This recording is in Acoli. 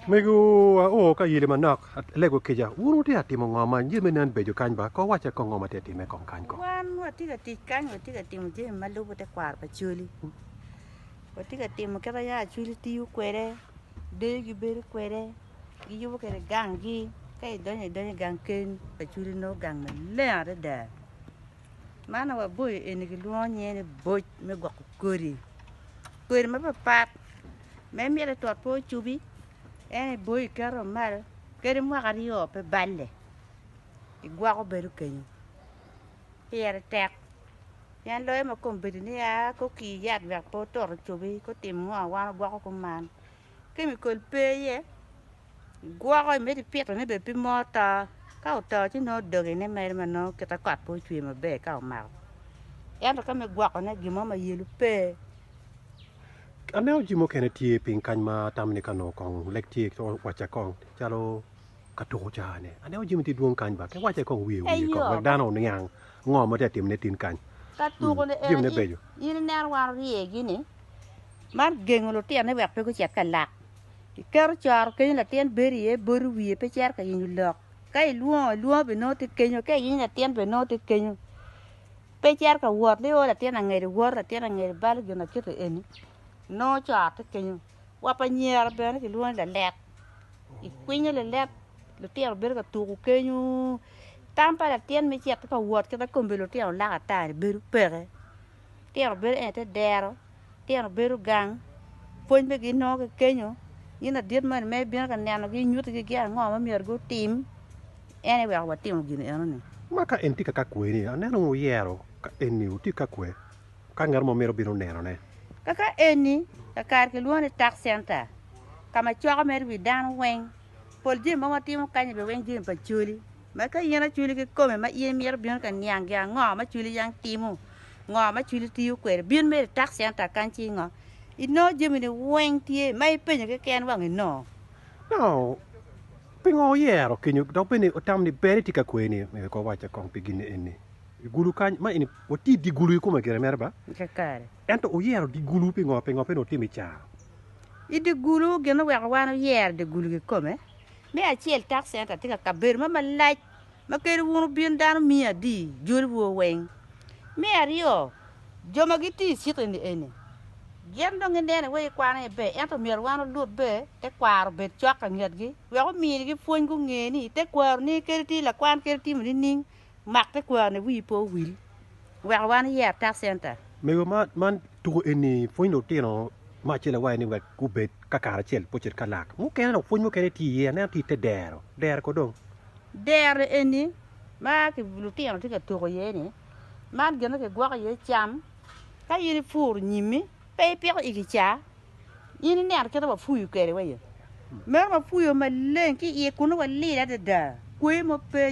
Megiwa o ka yili manok, alego kica, wun wutye ka timo ngo ma ye me nen beco kany ba? Ko wacce kong ngo ma tye ka timme kong kany ko? Wan watye ka tic kany, watye ka timo jami ma lubo tekwaro pa Coli. Watye ka timo kit ma yam Acoli tiyo kwede, deyo gibedo kwede, giyubo kwede ganggi. Ka idonyo, idonyo i gang keni pa Acoli inongo gang maleng adada. Man waboyo eni gilwongo nyinge ni boc me gwoko kodi, kodi mapapat ma imito itot pe ocubi en iboyo iketo malo kadi mwaka aryo pe balle igwoko bedo kenyo, pire tek pien loyo ma kombedini a ki okir yat wek pe otot ocubi ka otimo ngo wan wagwoko kuman, kemikol pe iye. Gwoko i medo pito ne bene pe mo to ka oto ci nongo doge ne mere ma nongo kite kot pe ocwe ma ber ka omako ento ka me gwoko ne gin mo ma yelo pe. Aneno jami mukene tye piny kany ma atamo ni ka nongo kong lek tye ci owacca kong calo ka tuko caa ne aneno jami tye dwong kany ba ki wacce kong wiye wiye kong Eyo. wek dano oniang ngo ma tye ka timone tin kany. Ka tuko ne Jami ene ne in beco. in ineno wan orye gi ni mar gengo lutino ni wek pe gucit ka lak Iketo coro kenyo latin bedo iye boti wiye pe cito ka yenyo lok ka ilwongo alwonga bene nongo tye kenyo ka iyenyo latin bene nongo tye kenyo pe cito ka wot ni o latin angede woto latin angede balo gin akiti eni nongo coro tye kenyo. Wa pa nyera bene kilwongo ni lalet ikwinyo lalet lutino bedo ka tuku kenyo tam pa latin me cito ka wot kit ma kombe lutino laka ata-ni bedo peke Litino bedo ene te dero, litino bedo gang, pwony be ginongo ki kenyo, in ladit moni ma ibino ka nenogi inyutti gi gin ango ma myero gutim, en aye weko watimo gin eno ni. Ma ka en tye ka ka kweni, aneno ni wuyero ka eni wutye ka kwe ka ngat mo mito bino neno ne. Ka ka eni, kakare kilwongo ni Tax Center, ka ma coko mere wi dano weng, pol jami ma watimo kany-nyi be weng jami pa coli. Ma ka in acwili kikome ma in imito bino ka niang gin ango ma cwili yang timo, ngo ma cwili tiyo kwede, bin mere i tax center kany ci ingo. Inongo jamini weng tye ma ipenyo keken wang inongo. Nongo pingo oyero kenyo dok bene otamo ni ber itye ka kwer ni myero kong wacce kong pi gin eni? I gulu kany ma eni watye dye gulu kikome gire mere ba? Kakare. Ento oyero dye gulu pingo? Pingo pe nongo otimo i car? I dye gulu gin oweko wan oyer dye gulu kikome? Me acel, tax center tye ka kabedo mo malac ma kadi wun wubin dano miyo adi joliwu weng. Me aryo, jo ma gitiyo i cik eni eni gin dong gineno iwa i kwano ni ber ento myero wan olut be te kwaro obed cok ka ngetgi wek ominigi pwony gunge ni tekwaroni kadi tye lakwan kadi timo nining. Mak tekwaro-ni wiyi pe owil wek wan iye atak center. Mego man tuko eni pwonyo lutino me acel awaye ni wek gubed ka kare acel pe ocit ka lak mukene dok pwony mukene tye iye aneno tye ite dero dero ko dong. Dero eni ma lutino tye ka tuko iye ni man gin ma kigwoko iye cam ka in ipuro nyimi pe ipiko i kicaa in ineno kit ma wapuyo kwede waye meno wapuyo maleng ki iye kunu walir adada kwoyo mo pe.